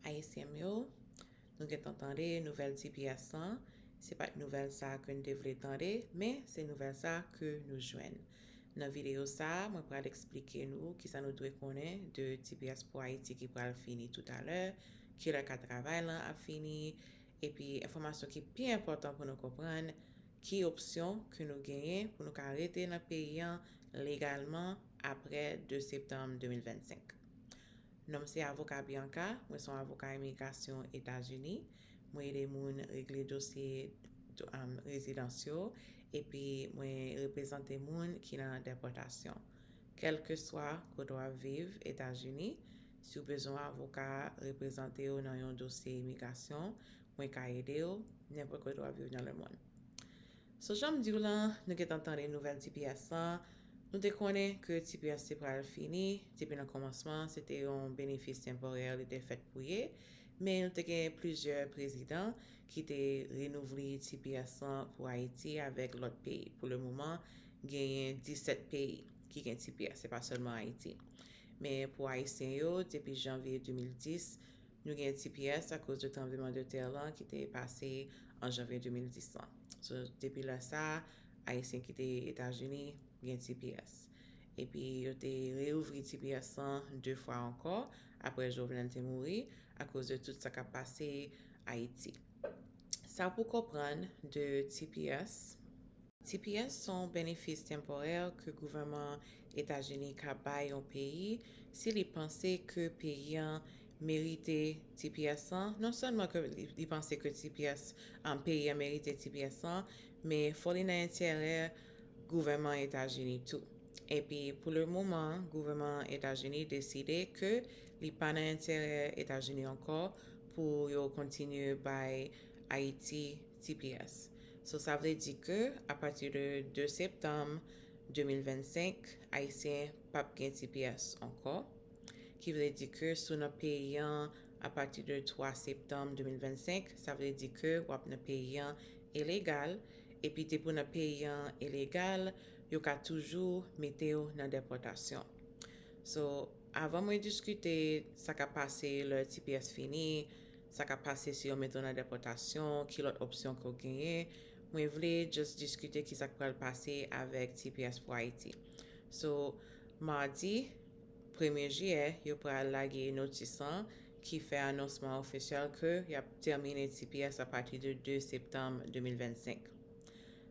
Ayisyen m yo, nou gentan tande nouvèl tps lan, se pa t nouvèl sa ke n te vle tande, men se nouvèl sa ke nou jwenn. Nan videyo sa, mwen pral eksplike nou kisa nou dwe konnen de tps pou Ayiti ki pral fini toutalè, kilè ka travay lan ap fini, epi enfòmasyon ki pi enpòtan pou nou konprann ki opsyon ke nou genyen pou nou ka rete nan peyi an legalman apre 2 septanm 2025. Non m se avoka Bianca, mwen son avoka imigrasyon Etazini, mwen ede moun regle dosye rezidans yo epi mwen reprezante moun ki nan depòtasyon. Kèlkeswa kote w ap viv Etazini, si w bezwen yon avoka reprezante w nan yon dosye imigrasyon, mwen ka ede w, nenpòt kote w ap viv nan lemonn. So janm diw lan nou gentan tande nouvèl tps lan nou te konnen ke tps te pral fini depi nan kòmansman se te yon benefis tenporè li te fèt pou ye men nou te gen plizyè prezidan ki te renouvli tps lan pou ayiti avèk lòt peyi pou le moman genyen 17 peyi ki gen tps se pa sèlman ayiti men pou ayisyen yo depi janvye 2010 Nou gen tps akoz de tranbleman de tè lan ki te pase an janvye 2010 lan. So, depi lè sa a, Ayisyen ki te Etazini gen tps. Epi yo te reouvri tps lan de fwa ankò apre Jovenel te mouri akoz de tout sa k ap pase Ayiti. Sa pou konprann de tps. Tps s on benefis tenporè ke gouvèman Etazini ka bay yon peyi si li panse ke peyi an merite tps lan, non sèlman ke li panse ke tps peyi an merite tps lan, men fò li nan enterè gouvèman Etazini tou. Epi pou le moman gouvèman Etazini deside ke li pa nan enterè Etazini ankò pou yo kontinye bay Ayiti tps. So sa vle di ke a pati de 2 septanm 2025 ayisyen pap gen tps ankò, ki vle di ke si w nan peyi an a pati de 3 septanm 2025 sa vle di ke wap nan peyi an ilegal, epi depi w nan peyi an ilegal yo ka toujou mete w nan depòtasyon. So. Avan mwen diskite sa kap pase lè tps fini, sa kap pase si yo mete w nan depòtasyon, ki lòt opsyon ke w genyen, mwen vle just diskite kisa k pral pase avèk tps pou Ayiti. So, Mardi, Premye Jiyè, yo pral lage notis lan ki fè anonsman official ke yap tèmine tps a pati de 2 Septanm 2025.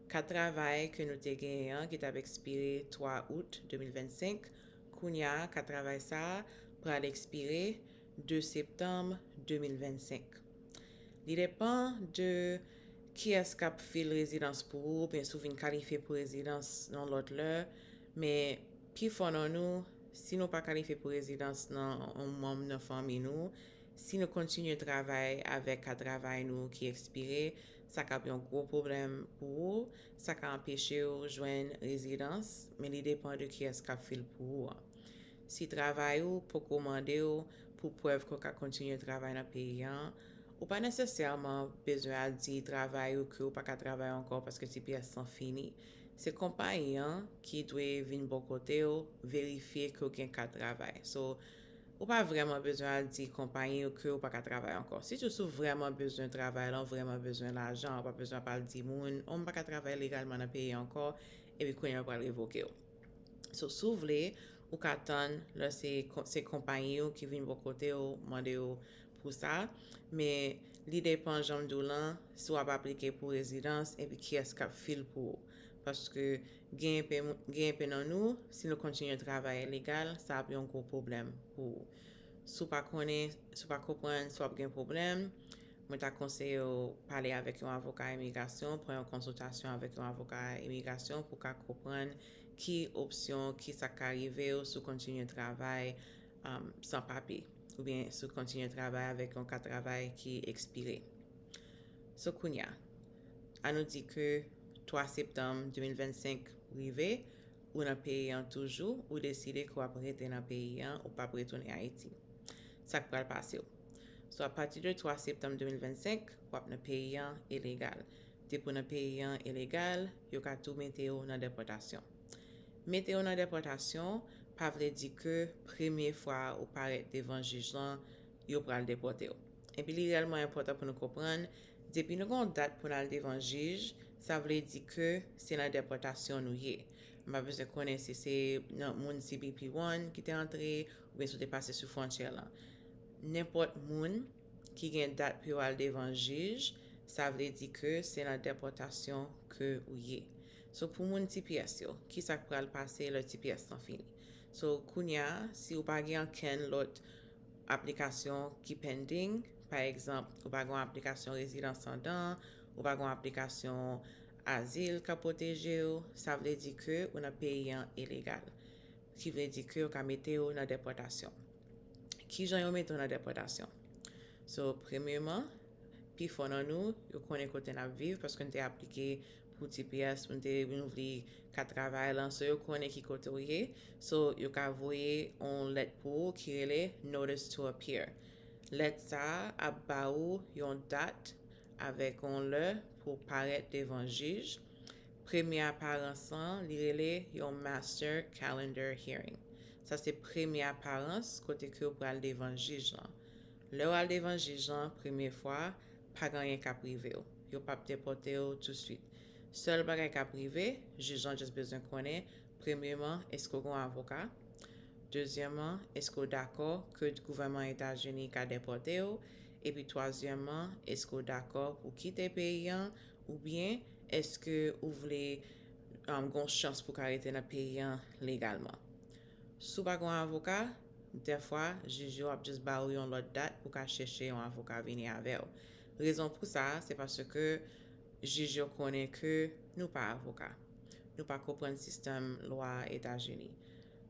Kat travay ke nou te genyen an ki tap ekspire 3 Out 2025 Kounya ka travay sa pral ekspire 2 septanm 2025. Li depan de kiyès k ap fil rezidans pou ou oubyen si w vin kalifye pou rezidans yon lòt lè, men pifò nan nou, si nou pa kalifye pou rezidans nan yon manm nan fanmi nou, si nou kontinye travay avèk ka travay nou ki ekspire, sa k ap yon gwo pwoblèm pou ou. Sa ka anpeche w jwenn rezidans, men li depan de kiyès k ap fè l pou ou an. Si travay ou poko mande w pou prèv ke w ka kontinye travay nan peyi an, ou pa nesesèman bezwen al di travay ou ke w pa ka travay ankò paske tps lan fini. Se konpayi an ki dwe vin bò kote w verifye ke w gen kat travay. So, Ou pa vrèman bezwen al di konpayi yo ke ou pa ka travay ankò. Sitou si w vrèman bezwen travay la, w vrèman bezwen lajan, ou pa bezwen ap al di moun, oh m pa ka travay legalman nan peyi ankò, epi kounye a yo pral revoke w. So, si w vle, ou ka tann lè se se konpayi ou ki vin bò kote w mande w pou sa, men li depan jan m di w lan, si w ap aplike pou rezidans epi kiyès k ap fil pou ou. Paske gen enpe nan nou, si nou kontinye travay ilegal, sa ap yon gwo pwoblèm pou ou. Si w pa konnen, si w pa konprann, si w ap gen pwoblèm, mwen ta konseye w pale avèk yon avoka imigrasyon, pran yon konsiltasyon avèk yon avoka imigrasyon pou w ka konprann ki opsyon, ki sa k ka rive w si w kontinye travay san papye oubyen si w kontinye travay avèk yon kat travay ki ekspire. So kounya. An nou di ke 3 septanm 2025 rive, ou nan peyi an toujou, ou deside ke w ap rete nan peyi an, ou p ap retounen Ayiti. Sa k pral pase w? Sou a pati de 3 septanm 2025, w ap nan peyi an elegal. Depi w nan peyi an elegal, yo ka tou mete w nan depòtasyon. Mete w nan depòtasyon pa vle di ke premye fwa ou parèt devan jij lan, yo pral depòte w. Epi li reyèlman enpòtan pou nou konprann, Depi nou gen yon dat pou n al devan jij, sa vle di ke se nan depòtasyon nou ye. M pa bezwen konnen si se nan moun cbp One ki te antre oubyen si w te pase sou fwontyè lan. Nenpòt moun ki gen dat pou yo al devan jij, sa vle di ke se nan depòtasyon ke ou ye. So pou moun tps yo, kisa k pral pase lè tps lan fini? So kounya si ou pa gen ankenn lòt Aplikasyon ki pending, pa egzanp, ou pa gen yon aplikasyon rezidans andan, ou pa gen yon aplikasyon azil k ap pwoteje w, sa vle di ke ou nan peyi an ilegal. Ki vle di ke yo ka mete w nan depòtasyon. Kijan yo mete w nan depòtasyon? So, premyeman, pi fò nan nou, yo konnen kote n ap viv paske n te aplike pou tps, nou te renouvle ka travay lan so yo konnen ki kote ou ye so yo ka voye yon lèt pou ou ki rele notice to appear lèt sa a ap ba ou yon dat avèk yon lè pou ou parèt devan jij premye aparans lan li rele yon master calendar hearing sa se premye aparans kote ke ou pral devan jij lan lè ou al devan jij lan premye fwa pa gen anyen k ap rive ou yo p ap depòte ou touswit. Sèl bagay kap rive, jij lan just bezwen konnen, premyeman, eske w gen yon avoka? Dezyèman, eske w dakò ke gouvènman Etazini ka depòte w? Epi twazyèman, eske w dakò pou w kite peyi an? Oubyen, eske ou vle gen yon chans pou w ka rete nan peyi an legalman? Si w pa gen yon avoka, dèfwa, jij yo ap just ba ou yon lòt dat pou w ka chèche yon avoka vini avè w. Rezon pou sa, se paske, Jij yo konnen ke nou pa avoka. Nou pa konprann sistèm lwa Etazini.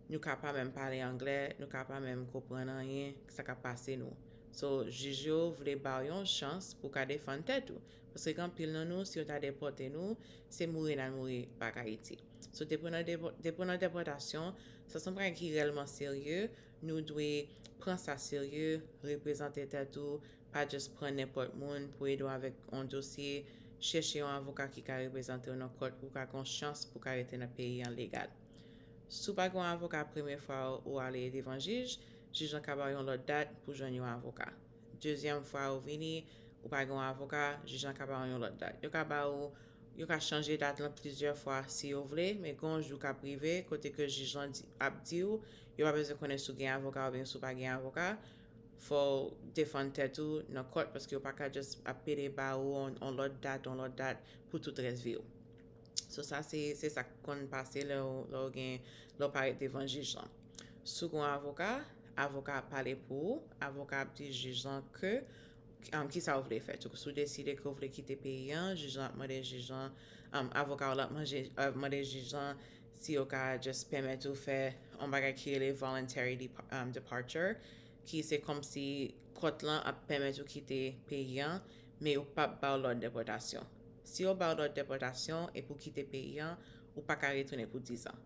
Nou ka pa menm pale anglè, nou ka pa menm konprann anyen sa kap pase nou. So, jij yo vle baw yon chans pou ka defann tèt ou. Paske gen anpil nan nou, si yo ta depòte nou, se mouri nal mouri back Ayiti. So depi nou nan depotasyon, sa son bagay ki rèlman serye, Nou dwe pran sa serye, reprezante tèt ou, pa just pran nenpòt moun pou ede w avèk on dosye, chèche yon avoka ki ka reprezante w nan kòt pou w ka gen yon chans pou w ka rete nan peyi an legal. Si w pa gen yon avoka premye fwa ou ale devan jij, jij lan ka ba w yon lòt dat pou w jwenn yon avoka. Dezyèm fwa ou vini, ou pa gen yon avoka, jij lan ka ba w yon lòt dat. Yo ka ba ou Yo ka chanje dat lan plizyè fwa si yo vle, men gen yon jou k ap rive kote ke jij lan ap di ou yo pa bezwen konnen si w gen avoka oubyen si w pa gen avoka, fò w defann tèt ou nan kòt paske yo pa ka just ap pede ba ou yon lòt dat, yon lòt dat pou tout rès vi w. So sa se se sa k konn pase lè w lè w gen lè w parèt devan jij lan. Si w gen yon avoka, avoka a ap pale pou ou, avoka a ap di jij lan ke Ki sa ou vle fè tou? Si w deside ke w vle kite peyi an, jij lan ap mande jij lan, avoka w lan ap mande jij lan si yo ka just pèmèt ou fè yon bagay ki rele voluntary departure, ki se kòmsi kòt lan ap pèmèt ou kite peyi an, men yo pa p ba w lòd depòtasyon. Si yo ba w lòd depòtasyon epi w kite peyi an, ou pa ka retounen pou dizan.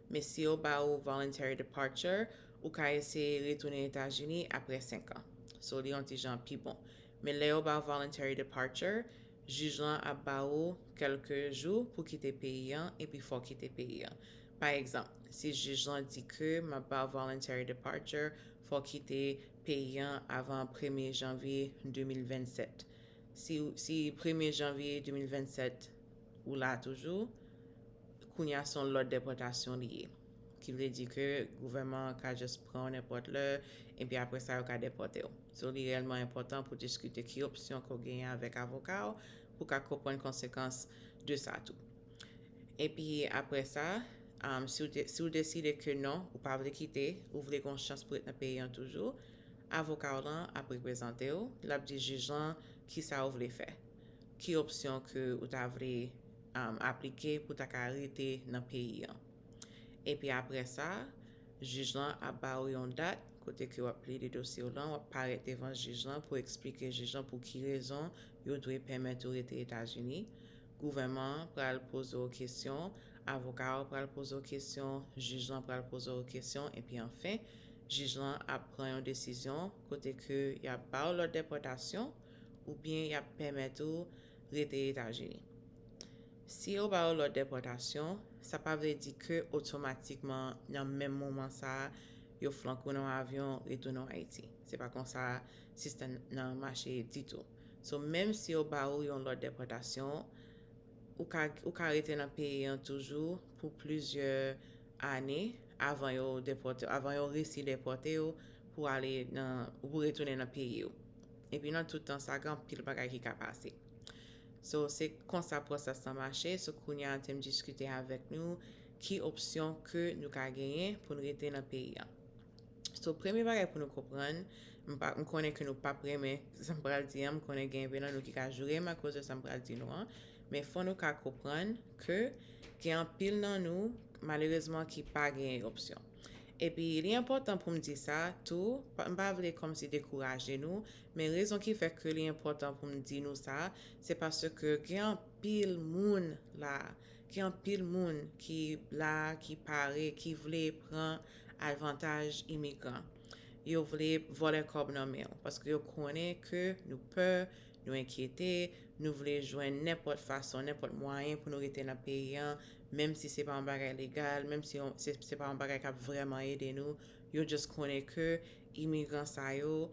Men si yo ba ou voluntary departure, Ou ka eseye retounen Etazini aprè 5 an. So li yon ti jan pi bon. Men lè yo ba w voluntary departure, jij lan ap ba ou kèlke jou pou kite peyi an epi fò w kite peyi an. Pa egzanp, si jij lan di ke m ap ba w voluntary departure, fò w kite peyi an avan premye janvye 2027. Si si premye janvye 2027 ou la toujou, kounye a se yon lòd depòtasyon li ye. Ki vle di ke gouvèman an ka just pran w nenpòt lè, epi apre sa yo ka depòte w. So li reyèlman enpòtan pou diskite ki opsyon ke w genyen avèk avoka w pou w ka konprann konsekans de sa tou. Epi apre sa, si w deside ke non, ou pa vle kite, ou vle gen yon chans pou ret nan peyi an toujou, avoka w lan ap reprezante w, l ap di jij lan kisa ou vle fè, ki opsyon ke ou ta vle aplike pou w ta ka rete nan peyi an. Epi aprè sa, jij lan ap ba ou yon dat kote ke w ap plede dosye w lan, w ap parèt devan jij lan pou eksplike jij lan pou ki rezon yo dwe pèmèt ou rete Etazini, gouvèman an pral poze w kesyon, avoka ou pral poze w kesyon, jij lan pral poze w kesyon, epi anfen, jij lan ap pran yon desizyon kote ke y ap ba w lòd depòtasyon oubyen y ap pèmèt ou rete Etazini. Si yo ba yo lòd depòtasyon, sa pa vle di ke otomatikman nan menm moman sa yo flanke w nan avyon retounen w Ayiti. Se pa konsa sistèm nan mache ditou. So menm si yo ba ou yon lòd depòtasyon, ou ka ou ka rete nan peyi an toujou pou plizyè ane avan yo depòte w, avan yo resi depòte w pou ale nan, pou retounen nan peyi w. Epi nan tout tan sa gen anpil bagay ki ka pase. So se konsa pwosès lan mache, so kounye a te m diskite avèk nou ki opsyon ke nou ka genyen pou n rete nan peyi a. So premye bagay pou nou konprann, m pa m konnen ke nou pap renmen sa m pral di an, m konnen gen enpe nan nou ki ka joure m akoz de sa m pral di nou an, men fò nou ka konprann ke gen anpil nan nou malerezman ki pa genyen opsyon. Epi li enpòtan pou m di sa tou, m pa vle kòmsi dekouraje nou, Men rezon ki fè ke li enpòtan pou m di nou sa, se paske gen anpil moun la, gen anpil moun ki la, ki pare, ki vle pran alvantaj imigran. Yo vle vòlè kòb nan men w, paske yo konnen ke nou pè, nou enkyete, nou vle jwenn nenpòt fason, nenpòt mwayen pou nou rete nan peyi an, menm si se pa yon bagay legal, menm si se pa yon bagay k ap vrèman ede nou, yo just konnen ke imigran sa yo,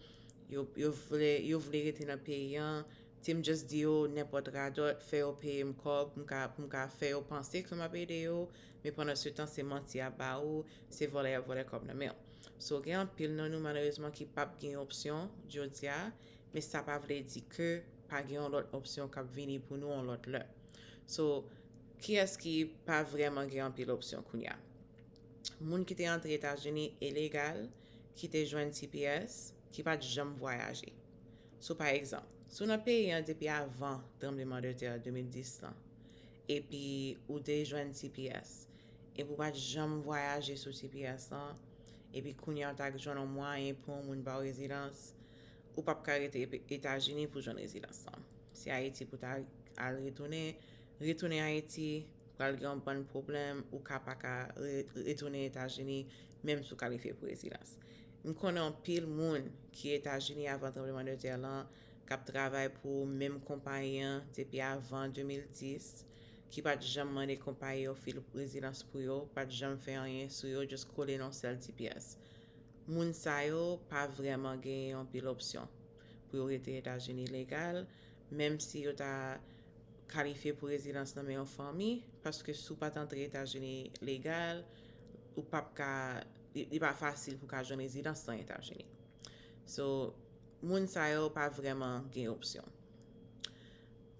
yo vle rete nan peyi an, si m just di yo nenpòt radòt, fè yo peye m kòb pou m ka fè yo panse ke m ap ede yo, men pandan se tan se manti y ap ba ou, se vòlè y ap vòlè kòb nan men ou. So gen anpil nan nou malerezman ki p ap gen yon opsyon jodi a, men sa pa vle di ke pa gen yon lòt opsyon k ap vini pou nou yon lòt lè. So kiyès ki pa vrèman gen anpil opsyon kounya? moun ki te antre Etazini ilegal ki te jwenn tps ki pa t janm vwayaje. Sou pa egzanp, si w nan peyi an depi avan tranbleman de tè 2010 lan epi ou te jwenn tps epi ou pa t janm vwayaje sou tps lan epi kounye a w ta k jwenn yon mwayen pou yon moun ba w rezidans, ou p ap ka rete Etazini pou jwenn rezidans lan. Se Ayiti pou w ta al retounen, retounen Ayiti. Pral gen yon bann pwoblèm, ou ka pa ka retounen Etazini menm si w kalifye pou rezidans. M konnen anpil moun ki Etazini avan tranbleman de tè lan k ap travay pou menm konpayi an depi avan 2010 ki pa t janm mande konpayi yo fil rezidans pou yo, pa t janm fè anyen sou yo just kole nan yon sèl ti pyès. Moun sa yo pa vrèman genyen yon pil opsyon pou yo rete Etazini legal menm si yo ta kalifye pou rezidans nan men yon fanmi, paske si w pa t antre Etazini legal, ou pap ka, li pa fasil pou w ka jwenn rezidans nan Etazini. So, moun sa yo pa vrèman gen opsyon.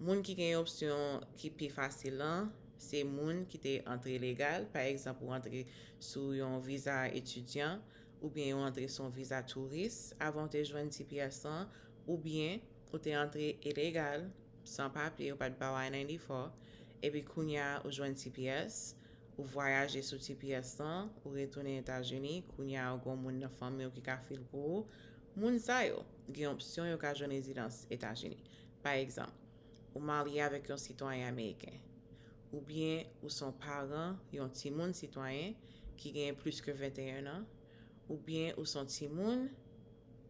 Moun ki gen opsyon ki pi fasil lan, se moun ki te antre legal, pa egzanp ou antre sou yon viza etidyan, oubyen ou antre sou yon viza touris avan w te jwenn tps lan, oubyen. Ou te antre ilegal, san papye, yo pat baw I-94, epi kounya ou jwenn tps, ou vwayaje sou tps lan, ou retounen Etazini, kounya ou gon moun nan fanmiw ki ka fil pou ou, moun sa yo, gen opsyon yo ka jwenn rezidans Etazini. Pa egzanp, ou marye avèk yon sitwayen ameriken, oubyen ou son paran yon timoun sitwayen ki gen plis ke 21 an, Ou byen ou son timoun,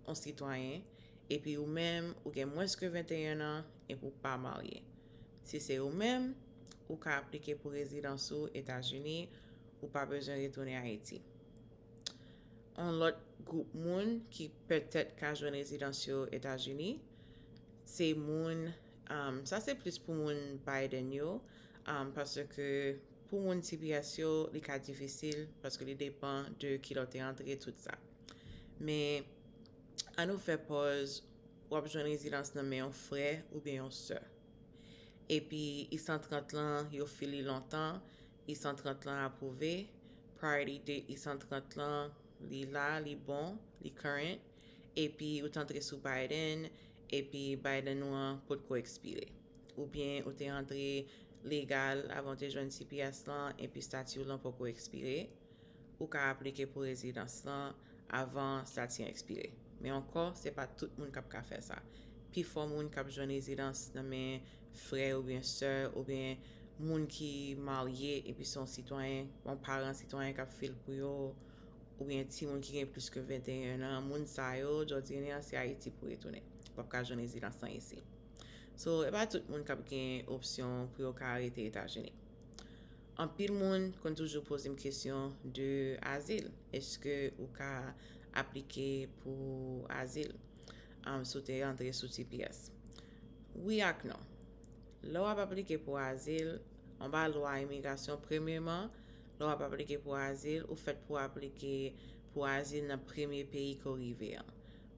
on sitwayen, epi ou menm ou gen mwens ke 21 an epi ou pa marye. Si se ou menm, ou ka aplike pou rezidans ou Etazini, ou pa bezwen retounen Ayiti. On lòt gwoup moun ki pètèt ka jwenn rezidans yo Etazini, se moun, sa se plis pou moun Biden yo, paske. Pou moun tps yo li ka difisil paske li depan de kilè w te antre tout sa. Men an nou fè pòz w ap jwenn rezidans nan men yon frè oubyen yon sè. Epi I 130 lan yo fil li lontan, I 130 lan apwouve, priority date I 130 lan li la li bon, li current. epi ou t antre sou Biden epi Biden ou an potko ekspire oubyen ou te antre legal avan ou te jwenn tps lan epi stati w lan poko ekspire ou ka aplike pou rezidans lan avan stati an ekspire men ankò se pa tout moun kap ka fè sa pifò moun kap jwenn rezidans nan men frè oubyen sè oubyen moun ki marye epi se yon sitwayen yon paran sitwayen kap fil pou yo. Ou gen timoun ki gen plis ke 21 an, moun sa yo, jodyen an se Ayiti pou retounen. Ou pap ka jwenn rezidans lan isi. So, e pa tout moun kap gen opsyon pou yo ka rete Etazini. Anpil moun konn toujou poze m kesyon de azil. Eske ou ka aplike pou azil um, si w te antre sou tps? Wi ak non. Lè wap aplike pou azil, anba lwa imigrasyon, premyeman, Lè w ap aplike pou azil, ou fèt pou aplike pou azil nan premye peyi ke w rive an.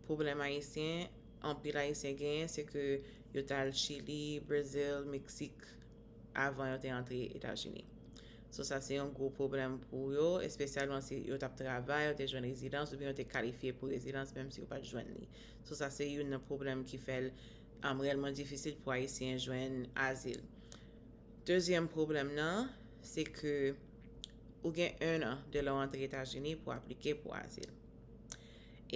Pwoblèm Ayisyen, anpil Ayisyen genyen se ke yo t al Chili, Brezil, Meksik avan yo te antre Etazini. So sa se yon gwo pwoblèm pou yo, espesyalman si yo t ap travay, yo te jwenn rezidans oubyen yo te kalifye pou rezidans menm si yo pa t jwenn li. So sa se youn nan pwoblèm ki fè l rèlman difisil pou Ayisyen jwenn azil. Dezyèm pwoblèm nan, se ke ou gen 1 an de lè w antre Etazini pou aplike pou azil.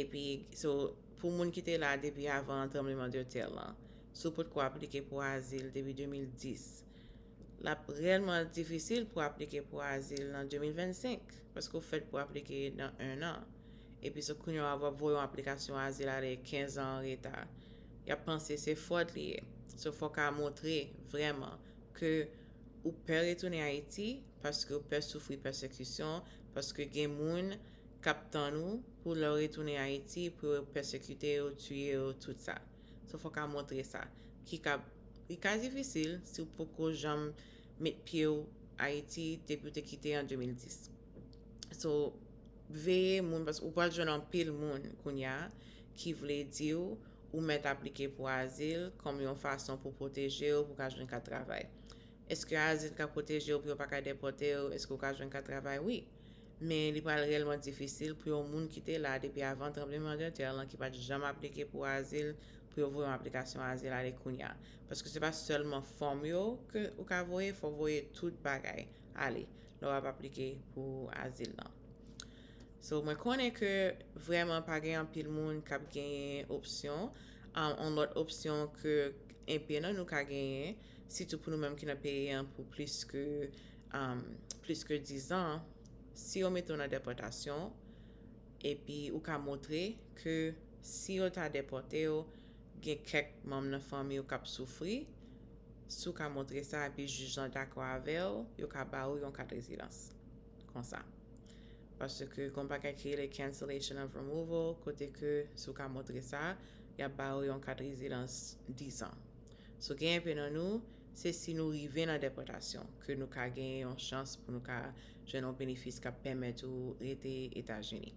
Epi, so, pou moun ki te la depi avan tranbleman de tè lan, si w potko aplike pou azil depi 2010, l ap rèlman difisil pou aplike pou azil nan 2025, paske w fèt pou aplike nan 1 an. Epi, so, kounye a w ap voye yon aplikasyon azil ale 15 an an reta. Yap panse se fwòd li ye. So fò ka montre vrèman ke ou pè retounen Ayiti paske ou pè soufri pèsekisyon paske gen moun kap tann ou pou lè ou retounen Ayiti pou yo pèsekite ou, tiye ou tout sa. So fò ka montre sa. Ki ka li ka difisil si ou poko janm met pye ou Ayiti depi ou te kite an 2010. So veye moun paske ou pral jwenn anpil moun kounya ki vle di w ou mèt aplike pou azil kòm yon fason pou pwoteje w pou ka jwenn kat travay. Eske azil ka pwoteje w pou yo pa ka depòte w? Eske ou ka jwenn kat travay? Wi. Men li pral reyèlman difisil pou yon moun ki te la depi avan tranbleman de tè lan ki pa t janm aplike pou azil pou yo voye yon aplikasyon azil ale kounya. Paske se pa sèlman fòm yo ke ou ka voye, fò w voye tout bagay. ale lè wap aplike pou azil lan. So mwen konnen ke vreman pa gen anpil moun kap genyen opsyon, an lòt opsyon ke enpe nan nou ka genyen, sitou pou nou menm ki nan peyi an pou plis ke plis ke 10 an, si yo mete w nan depòtasyon, epi ou ka montre ke si yo ta depòte w, gen kèk manm nan fanmi w kap soufri, Si w ka montre sa epi jij lan dakò avè w, yo ka ba ou yon kat rezidans. Konsa. Paske gon bagay ki rele cancellation of removal kote ke si w ka montre sa, y ap ba ou yon kat rezidans 10 an. So gen enpe nan nou, se si nou rive nan depòtasyon ke nou ka genyen yon chans pou nou ka jwenn yon benefis k ap pèmèt ou rete Etazini.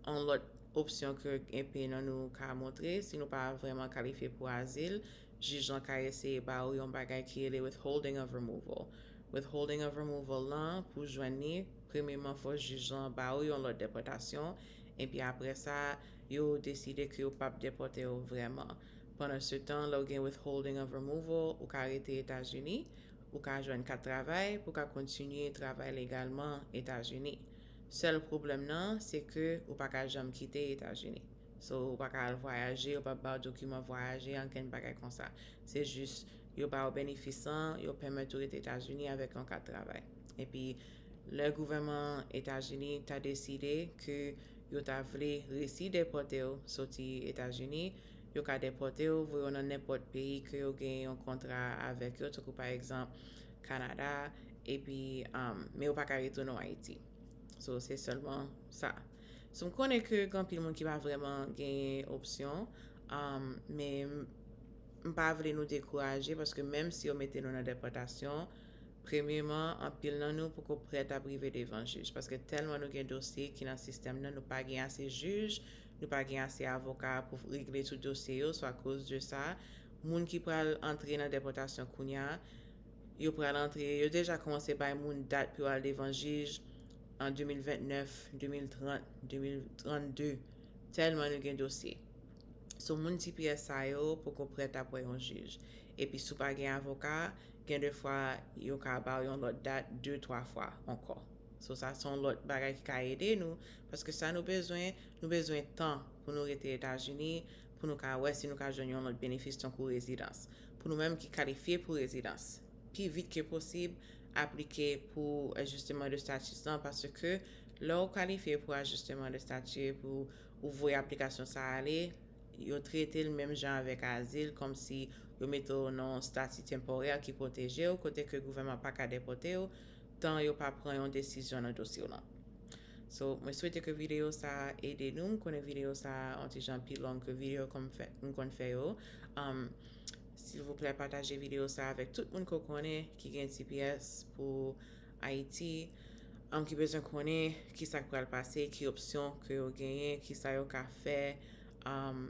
Yon lòt opsyon ke enpe nan nou ka montre, si nou pa vrèman kalifye pou azil, Jij lan ka eseye ba ou yon bagay ki rele withholding of removal. Withholding of removal lan, pou w jwenn li, premyeman fò jij lan ba ou yon lòd depòtasyon, epi apre sa, yo deside ke yo pap depòte ou vrèman. Pandansetan, lè w gen withholding of removal, ou ka rete Etazini, ou ka jwenn kat travay pou w ka kontinye travay legalman Etazini. Sèl pwoblèm nan, se ke ou pa ka janm kite Etazini. So ou pa ka al vwayaje, yo pa baw dokiman vwayaje, ankenn bagay konsa. Se jis yo baw benefis lan, yo pèmèt ou rete Etazini avèk yon kat travay. Epi lè gouvèman Etazini ta deside ke yo ta vle resi depòte w soti Etazini, yo ka depòte w voye w nan nenpòt peyi ke yo gen yon kontra avèk yo, tankou pa egzanp Kanada, epi men yo pa ka retounen w Ayiti. So se sèlman sa. So m konnen ke gen anpil moun ki pa vrèman genyen opsyon, men m pa vle nou dekouraje paske menm si yo mete nou nan depòtasyon, premyeman anpil nan nou poko prè t ap rive devan jij paske tèlman nou gen dosye ki nan sistèm nan nou pa gen ase jij, nou pa gen ase avoka pou regle tout dosye yo so akoz de sa moun ki pral antre nan depòtasyon kounya yo pral antre yo deja kòmanse bay moun dat pou yo al devan jij. an 2029, 2030, 2032 tèlman nou gen dosye. Sou moun ti pyès sa yo poko prèt ap wè yon jij. Epi si w pa gen avoka, gen de fwa yo ka ba w yon lòt dat de twa fwa ankò. So sa se yon lòt bagay ki ka ede nou paske sa nou bezwen, nou bezwen tan pou nou rete Etazini pou nou ka wè si nou ka jwenn yon lòt benefis tankou rezidans. Pou nou menm ki kalifye pou rezidans, pi vit ke posib aplike pou ajisteman de status lan paske lè ou kalifye pou ajisteman de stati epi ou voye aplikasyon sa ale, yo trete l menm jan avèk azil kòmsi yo mete w nan yon stati tenporè ki pwoteje w kote ke gouvèman pa ka depòte w tan yo pa pran yon desizyon nan dosye w lan. So, mwen swete ke videyo sa a ede nou, m konnen videyo sa a yon ti jan pi long ke videyo ke m konn fè yo. Silvouplè pataje video sa avèk tout moun ke w konnen ki gen tps pou Ayiti, an ki bezwen konnen kisa k pral pase, ki opsyon ke yo genyen, kisa yo ka fè, an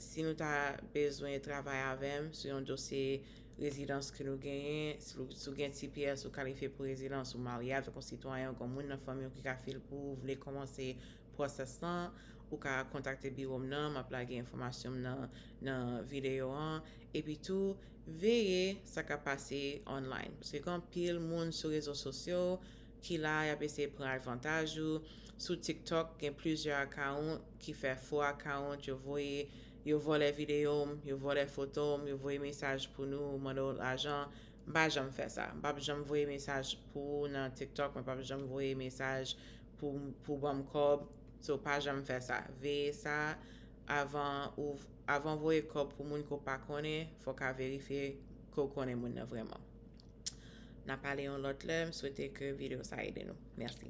si nou ta bezwen travay avè m sou yon dosye rezidans ke nou genyen, si w gen tps ou kalifye pou rezidans, ou marye avèk yon sitwayen, ou gen yon moun nan fanmi w ki ka fè l pou ou, vle kòmanse pwosès lan, ou ka kontakte biwo m nan, m ap lage enfòmasyon m nan nan videyo an, epi tou veye sa k ap pase online paske gen anpil moun sou rezo sosyo ki la y ap eseye pran advantaj ou, sou tiktok gen plizyè account ki fè fo account yo voye yo vòlè videyo m, yo vòlè foto m, yo voye mesaj pou nou mande w lajan, m pa janm fè sa, m p ap janm voye mesaj pou ou nan tiktok, mwen p ap janm voye mesaj pou banm kòb so pa janm fè sa veye sa avan ou avan voye kòb pou moun ke w pa konnen fò ka verifye ke w konnen moun nan vrèman na pale yon lòt lè m swete ke video sa ede nou mèsi.